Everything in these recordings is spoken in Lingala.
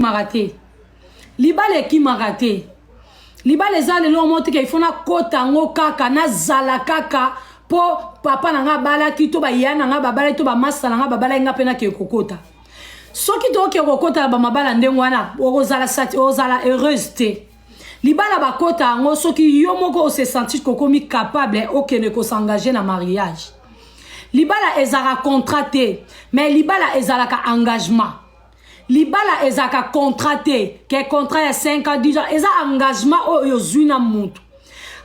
ekimaka te libala ekimaka te libala eza lelo motika ifo nakota yango kaka nazala kaka mpo papa na ngai abalaki to baya na ngai babalaki to bamasta na ngai babalaki ngai mpe nakee kokota soki tokee kokota na bamabala ndenge wana okozala ozala heureuse te libala bakota yango soki yo moko ose sentir kokomi capable okende kosengage na mariage libala ezalaka contrat te mais libala ezalaka engagement libala ezalaka contrat te ke contrat ya 5 ans 10 ans eza engagement oyo ozwi na motu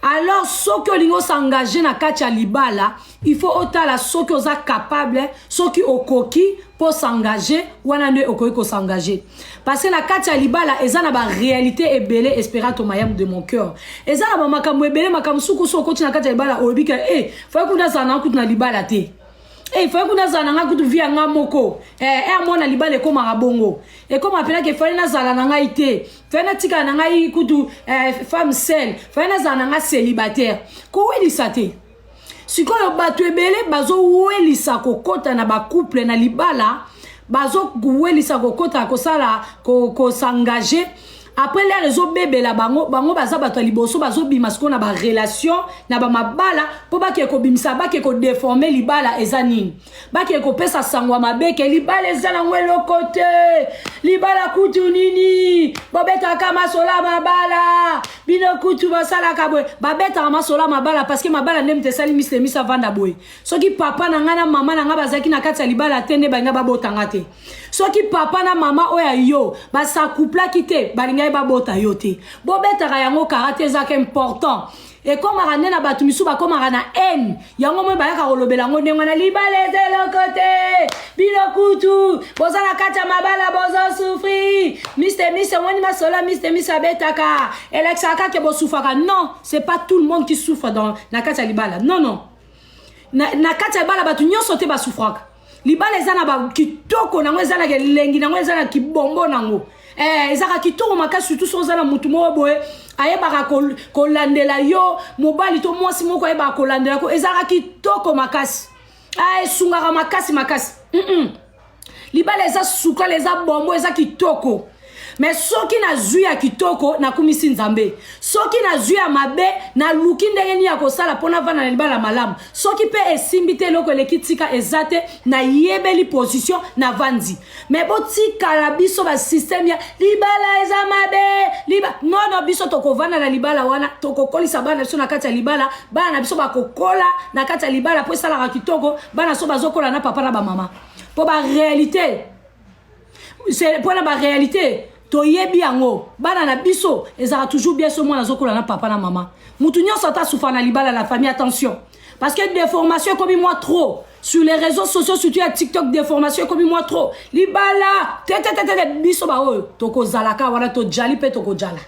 alors soki olingi osengage na kati ya libala il faut otala soki oza capable soki okoki mpo osengage wana nde okoki kosengage parce que na kati ya libala eza na baréalité ebele esperato mayam de mon cœur eza na bamakambo ebele makambo suku so okoti na kati ya libala oyebi ke e eh, fai kuna azala na kutu na libala te Eh, ifai kuna azala na ngai kutu vi ya ngai moko eh, eh, mwana libala ekomaka bongo ekoma mpenaka efali nazala na ngai te fai natikala na ngai kutu eh, femme sel fai nazala na ngai célibataire kowelisa te sikoyo bato ebele bazowelisa kokɔta na bacouple na libala bazowelisa kokɔta kosala kosengage ko après lere ezobebela bango bango baza bato ya liboso bazobima sikoyo na barelation na bamabala mpo bakee kobimisa bakee kodeforme libala eza nini bakee kopesa sango ya mabe ke libala eza nango eloko te libala kutu nini bobetaka masola mabala bino kutu basalaka boye babetaka masola mabala parceke mabala nde moto esali misemisa avanda boye soki papa na ngai na mama na ngai bazalaki na kati ya libala te nde balinga babotanga te soki papa na mama oyo ya yo basacouplaki te balingaki babota yo te bobetaka yango karate ezaka important ekomaka nde na bato misusu bakomaka na haine yango moi bayaka kolobela yango ndenge wana libala eza eloko te bino kutu boza na kati ya mabala bozosufri mister mis omoni masolo mister mis abetaka elekisaka kake bosufaka non c'est pas tout le monde qui souffre dans, na kati ya libala non non na, na kati ya libala bato nyonso te basufraka libala eza na bakitoko nango eza na kelengi nango eza na kibombo nango eh, ezalaka kitoko makasi surtout soki oza na motu moko boye ayebaka kolandela ko yo mobali to mwasi moko ayebaka kolandela ko ezalaka kitoko makasi ah, esungaka makasi makasi mm -mm. libala eza sukala eza bombo eza kitoko Mais soki na zui ya kitoko na kumisi nzambe soki na zui ya mabe na luki ndenge ni ya kosala pona vana na libala malamu soki pe esimbi te eloko eleki tika eza te na yebeli position na vanzi mais botikala biso ba système ya libala eza mabe liba non non biso tokovanda na libala wana tokokolisa bana biso na kati ya libala bana na biso bakokola na kati ya libala po esalaka kitoko bana so bazokola na papa na ba mama po ba realite c'est pona ba réalité toyebi yango bana na biso ezalaka toujours bien so mwana azokola na papa na mama mutu nyonso ata sufa na libala la famille attention parce que déformation ekomi mwa trop sur les réseaux sociaux surtout ya tiktok déformation ekomi mwa trop libala tetetetete biso baoyo tokozalaka wana tojali mpe tokozala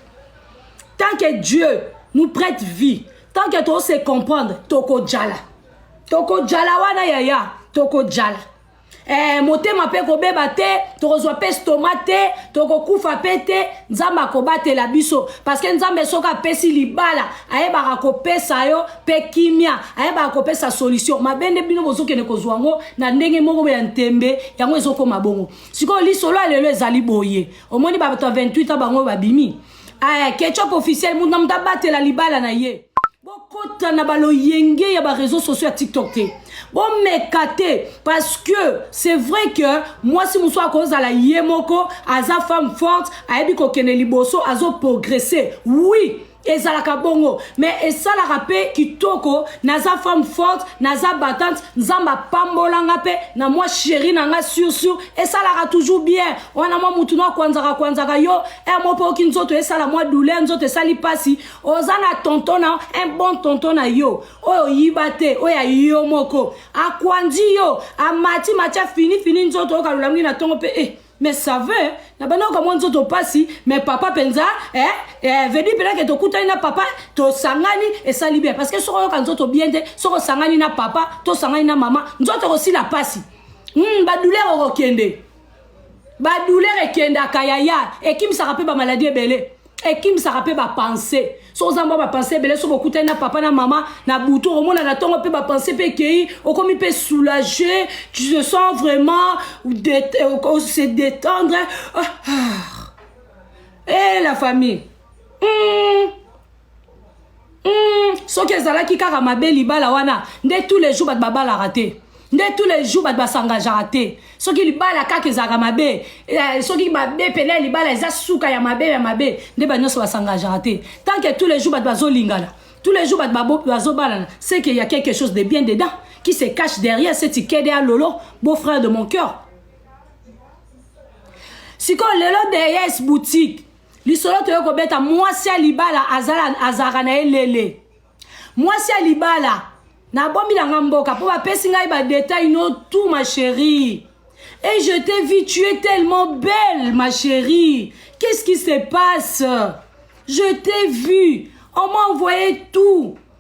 tant que dieu nous prête vie tant que tose comprendre tokozala tokozala wana yaya tokozala eh, motema mpe kobeba te tokozwa mpe stoma te tokokufa mpe te nzambe akobatela biso parceke nzambe soki apesi libala ayebaka kopesa yo mpe kimia ayebaka kopesa solution mabe nde bino bozokende kozwa yango na ndenge moko ya ntembe yango ezokoma bongo sikoyo lisolo ya lelo ezali boye omoni bato ya 28 a bango babimi aya eh, ketchup officiel mutu na mutu abatela libala na ye bokota na baloyenge ya bareseau sociaux ya tiktok te bomeka te parce que c'est vrai que mwasi mosusu akozala ye moko aza femme forte ayebi kokende liboso azoprogresse oui ezalaka bongo me esalaka mpe kitoko naza femme forte naza batante nzambe apambola nga mpe na mwa sheri na nga sursur esalaka toujours bien wana mwa mutu no akwanzaka kwanzaka yo e mo mpe oki nzoto esala mwa douleur nzoto esali mpasi oza na tonton na un bon tonton na yo oyo oyiba te oyo ya yo moko akwanzi yo amati mati afini fini nzoto oyo kalolamingi na ntongo mpe e eh. mais ça veut na banda okamwa nzoto mpasi mais papa mpenza eh, eh, vedi mpenake tokutani na papa tosangani esali bien parce que soki oyoka nzoto bien te soki osangani na papa tosangani na mama nzoto ekosila mpasi mm, badouleur okokende badouleur ekendaka yaya ekimisaka mpe bamaladi ebele ekimisaka mpe bapense so oza mwa bapense ebele so bokutani na papa na mama na butu okomona na ntongo mpe bapense mpe ekei okomi mpe soulage tu se sens vraiment euh, se détendre ah, ah. e la famille mm. Hmm, soki ezalaki kaka mabe libala wana nde tous les jours bato babalaka te nde tous les jours bato basangageaka te soki libala kaka ezalaka mabe eh, soki mabe pene ya libala eza suka ya mabe ya mabe nde bato nyonso basangageaka te tant que tous les jours bato bazolingana tous les jours bato bazobalana c'est qu'il y a quelque chose de bien dedans qui se cache derrière ce tikede ya lolo beau frère de mon cœur sikoyo lelo deyes boutique lisolo toye kobeta mwasi ya libala azalaka na ye lele mwasi ya libala nabomi na nga mboka mpo bapesi ngai badetail no tout ma chérie et je t'ai vu tu es tellement belle ma chérie qu'est-ce qui se passe je t'ai vu on m'a envoyé tout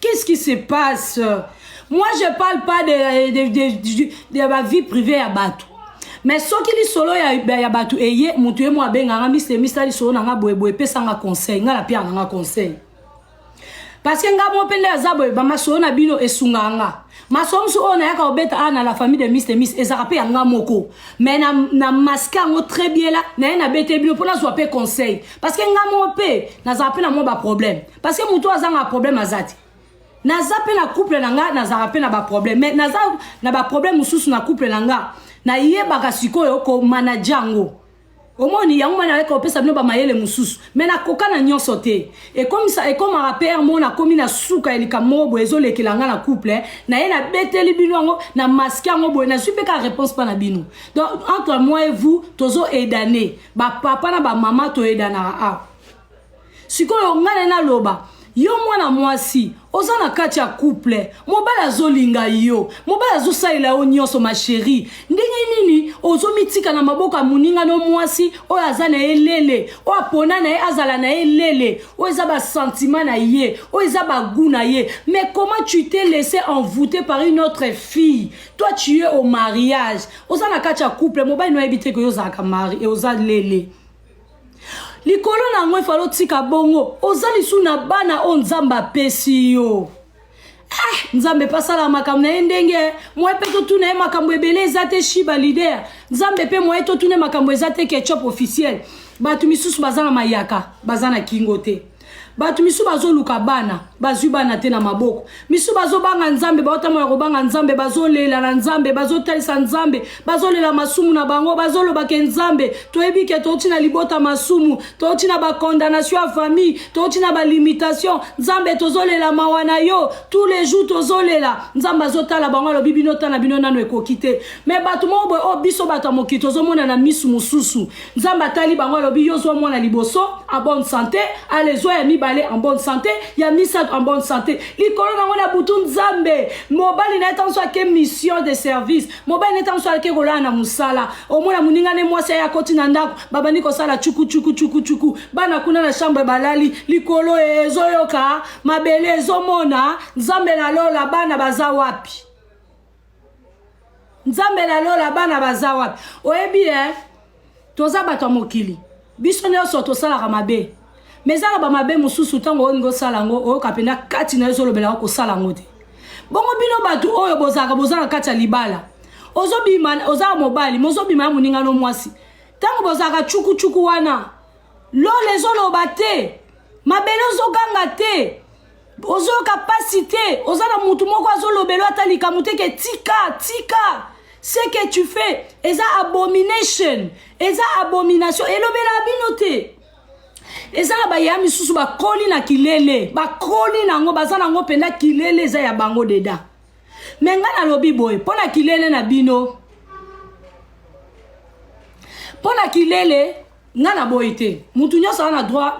Qu'est-ce qui se passe Moi, je parle pas de, de, de, de, de la vie privée à Batou. Mais soki lisolo ya, ya bato eye moto ye mo abenganga misemisa lisolo na nga boyeboye epesanga conseil nga na piaka na nga conseil parce que nga mo mpe nde aza boye bamasolo na bino esungaka nga masolo mosusu oyo nayaka kobeta awa na la famille de mis de mis ezalaka mpe ya nga moko mais na, na maske yango très bien la naye nabete bino mpo nazwa mpe conseil parce que nga moko mpe nazala mpe na mwa baproblème parce que moto azanga problème aza te naza mpe na couple na nga nazalaka mpe na baproblème mais naza na baproblème mosusu na couple na nga nayebaka sikoyo komanage yango omoni yango mwana aleka kopesa bino bamayele mosusu me nakoka na nyonso te ekomisa ekomaka pere mo nakomi na suka ya likambo moko boye ezolekela nga na couple na ye nabeteli bino yango na maske yango boye nazwi mpe kaka réponse mpa na bino donc entre moi et vous tozo edane bapapa na bamama toyedanaka awa sikoyo ngai na naloba yo mwana mwasi oza na kati ya couple mobali azolinga yo mobali azosalela yo nyonso ma chérie ndenge nini ozomitika na maboko ya moninga no mwasi oyo aza na ye lele oyo apona na ye azala na ye lele oyo eza basentima na ye oyo eza bagu na ye mais comment tu te laisse envoute par une autre fille toi tu es au mariage oza na kati ya couple mobali no ayebi te ke yo ozalaka mari e oza lele likolo na yango efali otika bongo oza lisu na bana oyo nzambe apesi yo eh, nzambe mpe asalaka makambo na ye ndenge eh. moye mpe totuna ye makambo ebele eza te shiba lider nzambe mpe moye totuna ye makambo eza te ketchup officiel bato misusu baza na mayaka baza na kingo te bato misu bazoluka bana bazwi bana te na maboko misu bazobanga nzambe baotambola kobanga nzambe bazolela na nzambe bazotalisa nzambe bazolela masumu na bango bazoloba ke nzambe toyebi ke touti na libota masumu touti na bacondanation ya famille touti na balimitation nzambe tozolela mawa na yo tous les jours tozolela nzambe azotala bango alobi bino ta na bino nano ekoki te me bato moko boye oyo oh, biso bato ya mokili tozomona na misu mosusu Nzambe atali bango alobi yo zwa mwana liboso en bonne sante, ale zwa ya mibale en bonne sante, ya misato en bonne sante. Likolo nango na butu Nzambe mobali na ye tanso ake mission de service, mobali na ye tanso ake kolala na mosala, omona moninga ne mwasi aye akoti na ndako babandi kosala chuku chuku chuku chuku, bana kuna na chambre balali, likolo ezoyoka, mabele ezomona, Nzambe na lola bana baza wapi? nzambe na lola bana baza wapi oyebi eh? toza bato ya mokili biso nyonso tosalaka mabe me ezaka bamabe mosusu ntango olingi osala yango oyoka mpenza kati na yo ezolobelaka kosala yango te bongo bino bato oyo bozalaka boza na kati ya libala ozobima ozala mobali mozobima ya moningano mwasi ntango bozalaka cukucuku wana lola ezoloba te mabele ozoganga te ozoyoka mpasi te oza na motu moko azolobelo ata likambo te ke tika tika ce que tu fais eza abomination eza abomination elobela bino te eza na baya misusu bakoli na kilele bakoli na yango baza na yango mpenza kilele eza ya bango deda me ngai nalobi boye mpo na kilele na bino mpo na kilele nga na boyi te mutu nyonso aza na droit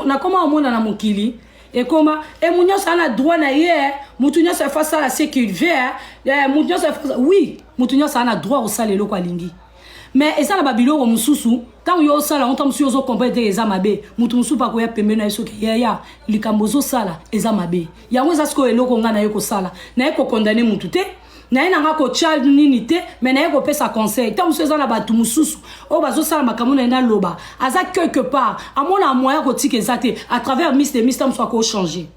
nakoma omona na mokili ekoma e mutu nyonso aza na droit na ye eh. mutu nyonso efa asala ce qu'il veut eh. Eh, mutu nyonso oui mutu nyonso aza na droit kosala eloko alingi mais eza na babiloko mosusu ntango yo osala yango ntango mosusu yo ozokomprene te eza mabe moto mosusu akoya pembeni na ye soki yaya likambo ozosala eza mabe yango eza sikoyo eloko ngai naye kosala naye kokondane motu te naye nanga kotya nini te me naye kopesa conseil ntango mosusu eza na bato mosusu oyo bazosala makambo na ye naloba aza quelque part amona moyen kotika eza te à travers miss de miss ntango mosusu akochange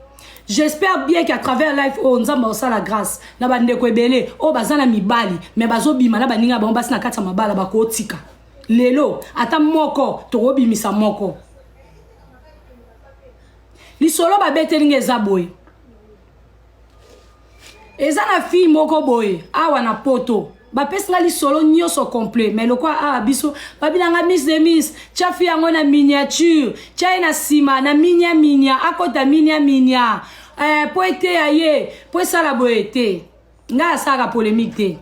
j'espère bien qu'à travers life oyo nzambe akosala grâce na bandeko ebele oyo baza na mibali me bazobima na baninga bango basi na kati ya mabala bakotika lelo ata moko tokobimisa moko lisolo babeteli nga eza boye eza na fille moko boye awa na poto bapesi nga lisolo nyonso complet mai lokola awa ah, biso babilanga mis de mis tya fi yango na miniature tya ye na nsima na minia minia akota minia minia eh, mpo eteya ye mpo esala boye te ngai asalaka polemique te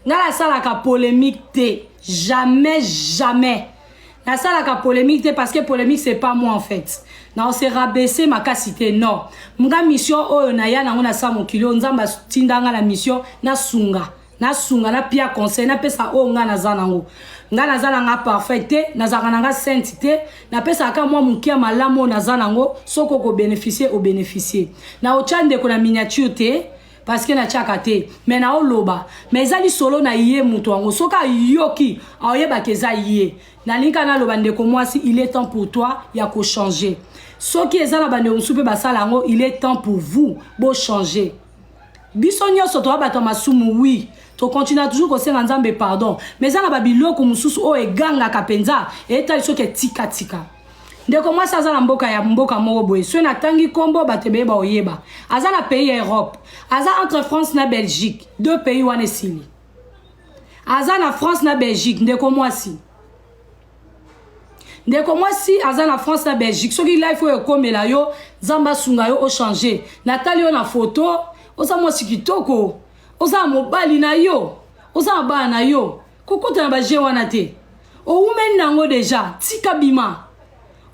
nga nasalaka polemique te jamais jamais nasalaka polemique te parce que polemique c'est pas moi en fait na se rabaisser makasi te non nga mission oyo naya nango na sa mokili oyo nzambe atinda nga na mission nasunga nasunga napia conseil napesa oyo nga naza nango nga naza na nga parfait te nazalaka na nga sainte te napesaka kaka mwa moke ya malamu oyo naza nango soki okobénéficie obénéficie na otya ndeko na miniature te parce que natiaka te mais naoloba mais eza lisolo na ye moto yango soki ayoki aoyebaka eza ye nalingi kaka naloba ndeko mwasi il est temps pour toi ya kochanger soki eza na bandeko mosusu mpe basala yango il est temps pour vous bochanger biso nyonso toya bato ya masumu wi tokontinua toujours kosenga nzambe pardon mais eza na babiloko mosusu oyo egangaka mpenza etali soki etikatika ndeko mwasi aza na mboka ya mboka moko boye soki natangi nkombo bato ebeye baoyeba aza na pays ya europe aza entre france na belgique deux pays wana esili aza na france na belgique ndeko mwasi ndeko mwasi aza na france na belgique soki life oyo ekomela yo nzambe asunga yo ochange natali yo na foto oza mwasi kitoko oza na mobali na yo oza na bana na yo kokota na baje wana te owumeli na yango deja tika bima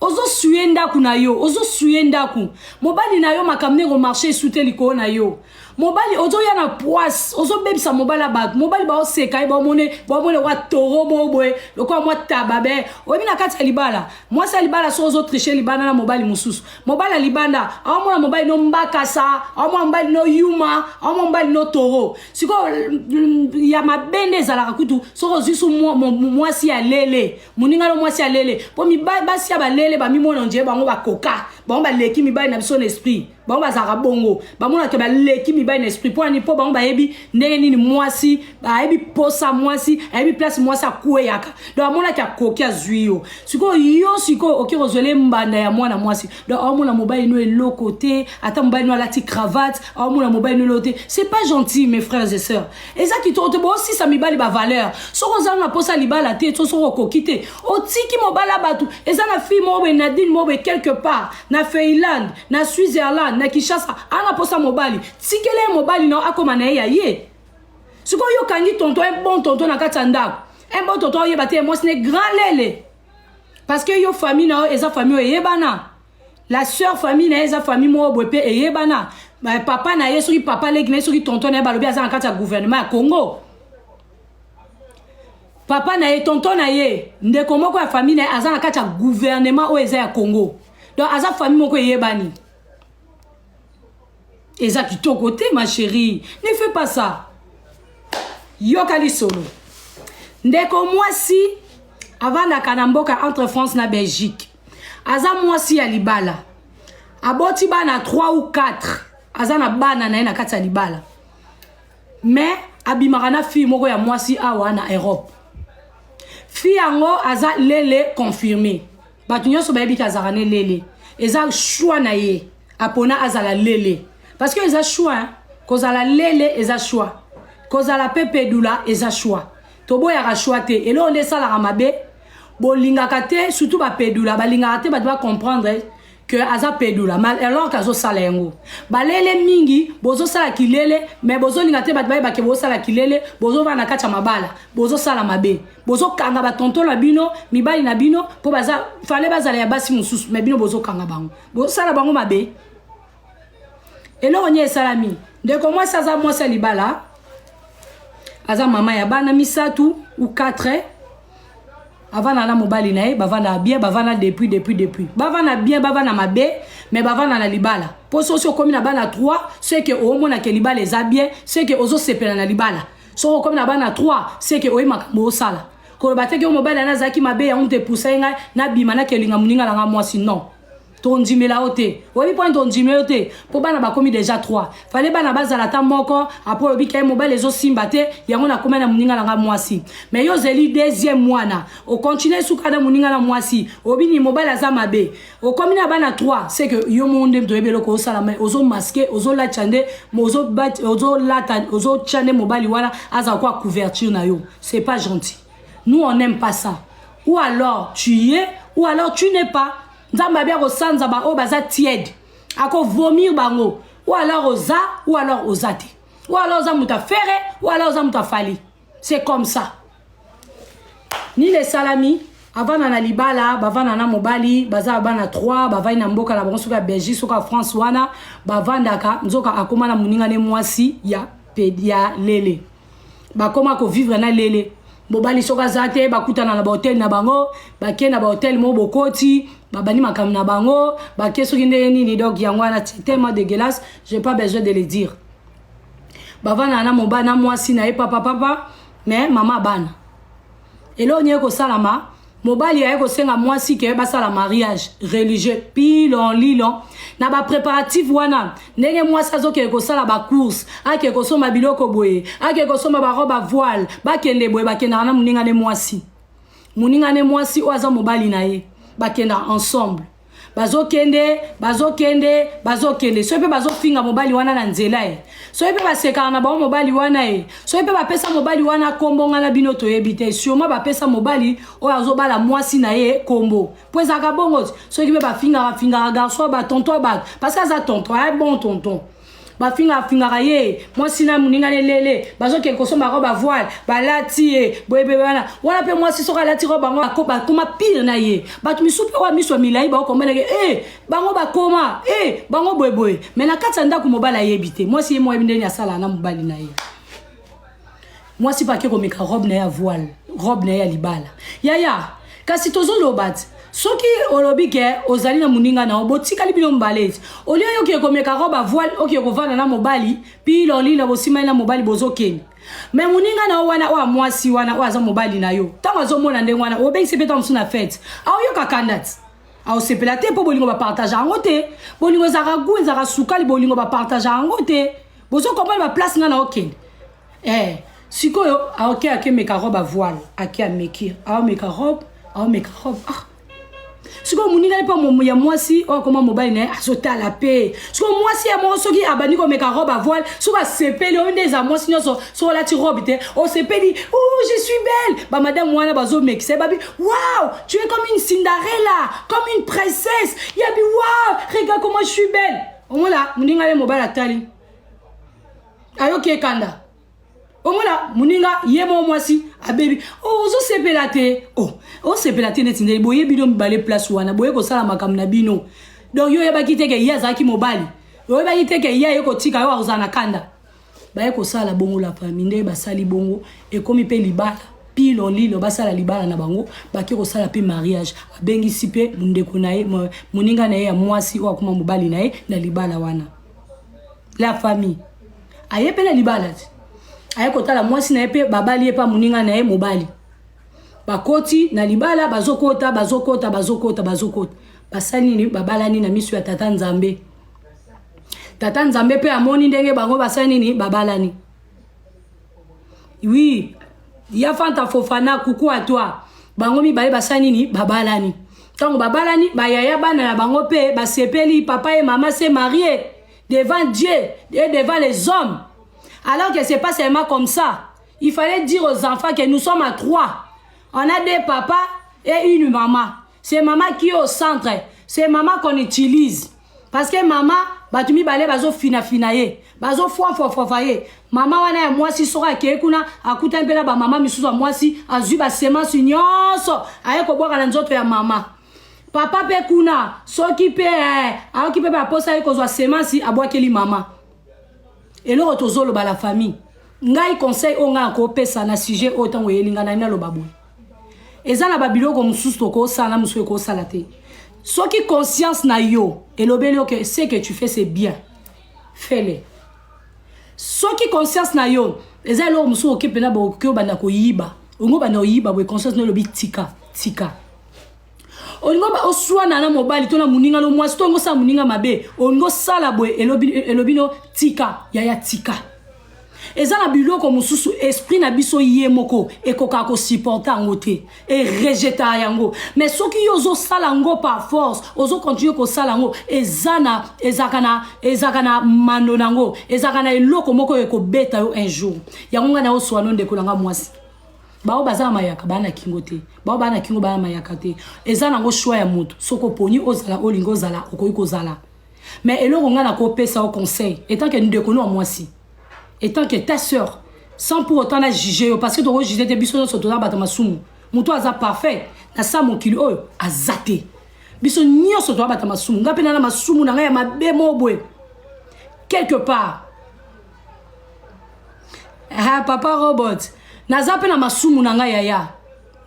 ozosuye ndako na yo ozosuye ndako mobali na yo makambo ndenge omarche esu te likolo na yo mobali ozoya na poise ozobebisa mobali ya bato mobali baoseka ye baomone baomone wa toro moko boye lokola mwa taba be oyebi na kati ya libala mwasi ya libala so ozotriche libanda na mobali mosusu mobali ya libanda aomona mobali no mbakasa aomona mobali no yuma aomona mobali no toro sikoyo ya mabe nde ezalaka kutu soki ozwi su mwasi ya lele moninga no mwasi ya lele mpo basi ya balele bamimona ondie bango bakoka bango baleki mibali na biso na esprit bango bazalaka bongo bamonaka baleki mibali na esprit mpo nani mpo bango bayebi ndenge nini mwasi bayebi posa mwasi ayebi place mwasi akweyaka donc amonaki akoki azwi yo sikoyo yo sikoyo oke kozwele mbanda ya mwana mwasi donc aomona mobali no eloko te ata mobali no alati cravate aomona mobali no eloko te c'est pas gentil mes frères et sœurs eza kitoko te bosisa mibali bavaleur soki ozanga mposa libala te so soki okoki te otiki mobala bato eza na fille moko boye nadine moko boye quelque part na feiland na switzerland na kinshasa ana mposa mobali tikele ye mobali nao akoma na ye ya ye sikoyo okangi tonto un bon tonto na kati ya ndako un bon tonto oyeba te mwasi ne grand lele parce que yo famille na yo eza famille oyo eyebana la sœur famille na ye eza famille moko boye mpe eyebana papa na ye soki papa leki na ye soki tonton na ye balobi aza na kati ya gouvernement ya congo papa na ye tonton na ye ndeko moko ya famille na ye aza na kati ya gouvernement oyo eza ya congo donc aza famille moko eyebani eza kitoko te ma chérie ne fais pas ça yoka lisolo ndeko mwasi avandaka na mboka entre france na belgique aza mwasi ya libala aboti bana 3 ou 4 aza na bana na ye na kati ya libala mais abimaka na fille moko ya mwasi awa na europe fille yango aza lele confirme bato nyonso bayebi ke azalaka ne lele eza choix na ye apona azala lele parce que eza choix hein? kozala lele eza choix kozala mpe pedula eza choix toboyaka choix te eloko nde esalaka mabe bolingaka te surtout bapedula balingaka te bato bacomprendre que aza pedula mal alors azosala yango balele mingi bozosala kilele mais bozolinga te bato bayebake bozosala kilele bozovanda na kati ya mabala bozosala mabe bozokanga batonto na bino mibali na bino mpo baza fale bazala ya basi mosusu me bino bozokanga bango bosala bango mabe eloko nie esalami ndeko mwasi aza mwasi ya libala aza mama ya bana misato u 4 avanda na mobali na ye bavanda bien bavanda depuis depuis depuis bavanda bien bavanda mabe me bavanda na libala mpo sosi okomi na bana 3 seke omonake libala eza bien seke ozosepela na libala soki okomi na bana 3 seke oye makambo osala koloba te ke mobali ana azalaki mabe yango moto epusai ngai nabima nakelinga moninga na ngai mwasi non tondimela yo te oyebi mponi tondimela yo te mpo bana bakomi deja 3 fale bana bazala ata moko apres olobi ke mobali ezosimba te yango nakomai na moninga na ngai mwasi mai yo ozeli deuxième mwana okontinue suka na moninga na mwasi oyebi nini mobali aza mabe okomi na bana 3 c'est que yo moko nde moto oyebi eloko osala mai ozomaske ozolatya nde ozolata ozotya nde mobali wana azala kwa couverture na yo c'est pas gentil nous on aime pas ça ou alors tu y es ou alors tu n'es pas nzambe abi akosanza baoyo baza tiede akovomir bango ou alors oza ou alors oza te ou alors oza moto afere ou alors oza moto afali c'est comme ça nini esalami avanda na libala bavanda na mobali baza bana 3 bavandi na mboka na bango soki ya belgique soki ya france wana bavandaka nzoka akoma na moninga ne mwasi ya, ya lele bakoma kovivre na lele mobali soki aza te bakutana na bahotel na bango bake na bahotel moko bokoti babandi makambo na bango bake soki ndenge nini donc yango wana tellement dégueulasse je pas besoin de le dire bavandaka na mobali na mwasi na ye papa papa me mama bana eloko nini ekosalama mobali aye kosenga mwasi ke basala mariage religieux pilon lilon na bapréparatif wana ndenge mwasi azokende kosala bacourse ake kosomba biloko boye ake kosomba barobe avoile bakende boye bakendaka na moninga ne mwasi moninga ne mwasi oyo aza mobali na ye bakendaka ensemble bazokende bazokende bazokende soki mpe bazofinga mobali wana na nzela e soki mpe basekaka na bango mobali wana e soki mpe bapesa mobali wana kombo ngai na bino toyebi te surement bapesa mobali oyo azobala mwasi na ye kombo mpo ezalaka bongo soki mpe bafingaka fingaka garçon batonton bato parce que aza tonton aye bon tonton bafinga afingaka ye mwasi na moninga na elele bazokende kosomba yango bavoile balati ye boyebebe wana wana mpe mwasi soki alati ko bango bakoma pire na ye bato misusu mpe oyo miso ya milai baokomeleke e eh, bango bakoma e eh, bango boyeboye mai na kati ya ndako mobali ayebi te mwasi ye moyebi ndeni asala na mobali na ye mwasi mpe ake komeka robe na ye ya voile robe na ye ya libala yaya kasi tozoloba ti soki olobi ke ozali na moninga na yo botikali bino mobale ete olie yo okie komeka robe ya voile okie kovanda na mobali pilolina bosimani na mobali bozokende me moninga na yo wana oyo mwasi wana oyo aza mobali na yo ntango azomona ndenge wana obengisi mpe ntango mosusu na fete aoyoka kanda ti aosepela te mpo bolingo bapartage yango te bolingo ezalaka gu ezalaka sukali bolingo bapartage yango te bozo comprendre ba place nga na okende eh sikoyo aoke ah, ake meka robe a voile ake ameki aomeka ah, robe aomeka ah, robe ah sikoyo moninga ye mpe ya mwasi oyo akoma mobali na ye azotala mpe sikoyo mwasi ya moko soki abandi komeka robe avoile soki asepeli oyo nde eza mwasi nyonso soki olati robe te osepeli o oh, je suis belle bamadame wana bazomekisa ye babi wow tu es comme une cinderella comme une princesse yabi wow regarde comment je suis belle omona moninga ye mobali atali ayoki ekanda omona moninga ye moko mwasi abebi o oh, ozosepela te o oh, osepela te neti ndeli boye bino mibale place wana boye kosala makambo na bino donc yo oyebaki te ke ye azalaki mobali oyebaki te ke ye aye kotika yo akozala na kanda baye kosala bongo la famille nde basali bongo ekomi mpe libala pilo lilo basala libala na bango bake kosala mpe mariage abengisi mpe ndeko na ye moninga na ye ya mwasi oyo akoma mobali na ye na libala wana la famille aye mpe na libala te aye kotala mwasi na ye mpe babali ye mpe moninga na ye mobali bakoti na libala bazokota bazokota bazokota bazokota basali nini babalani na miso ya tata nzambe tata nzambe mpe amoni ndenge bango basali nini babalani wi ya fanta fofana kuku a toi bango mibale basali nini babalani ntango babalani bayaya bana na bango mpe basepeli papa ye mama se marie devant dieu et devant les hommes alors que c'est pas seulement comme ça il fallait dire aux enfants que nous sommes à trois on a deux papa et une mama c'est mama qui au centre c'est mama qu'on utilise parce que mama bato mibale bazofinafina ye bazofwafwafwafa ye mama wana ya mwasi soko akei kuna akuta mpela bamama misusu ya mwasi azwi basemance nyonso aye kobwaka na nzoto ya mama papa mpe kuna soki mpe eh, ayoki mpe baposa ye kozwa semence abwakeli mama eloko tozoloba la famille ngai conseil oyo ngai akopesa na sujet oyo ntango eyeli ngai nai naloba boye eza na babiloko mosusu tokosala na mosusu ekosala te soki conscience na yo elobeli yo ke ce que tu fais c'est bien fele soki conscience na yo eza eloko mosusu oke mpena bokoki obanda koyiba olingi obanda oyiba boye conscience na elobi tika tika olingi oswana na mobali to na moninga no mwasi to olingi osala moninga mabe olingi osala boye elobi no tika yaya tika eza na biloko mosusu esprit na biso ye moko ekokaka kosupporte yango te erejetaka yango mais soki yo ozosala yango par force ozokontinue kosala yango eza na ezalaka na ezalaka na mano na yango ezalaka na eloko moko ekobeta yo un jour yango ngai naoswano ndeko na ngai mwasi baoyo baza na mayaka baa na kingo te baoyo baa na kingo baa na mayaka te eza nango shwa ya moto soki oponi ozala olingi ozala okoki kozala Mais eloko nga na ko pesa yo conseil etant que ndeko no ya mwasi etant que ta sœur sans pour autant na juger yo parce que toko juger te biso nionso toza bata masumu mutu aza parfait na sa mokili oyo aza te biso nionso toza bata masumu nga pe na na masumu na nga ya mabe mobwe quelque part ah, papa robot naza pe na masumu na nga yaya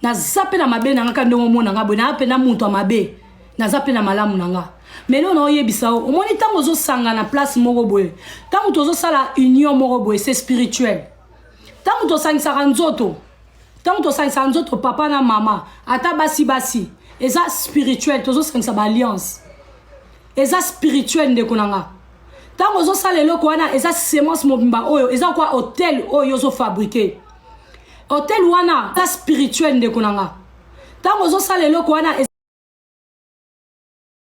naza mpe na mabe na nga ka ndenge omona nga boye naa mpe na moto ya mabe naza mpe na malamu na nga melo na oyebisa yo omoni ntango ozosangana place moko boye ntango tozosala union moko boye se spirituel ntango tosangisaka nzoto ntango tosangisaka nzoto papa na mama ata basi basi eza spirituel tozosangisa baalliance eza spirituel ndeko na nga ntango ozosala eloko wana eza semence mobimba oyo eza kwa hotel oyo ozofabrike hotel wana eza spirituel ndeko na nga ntango ozosala eloko wana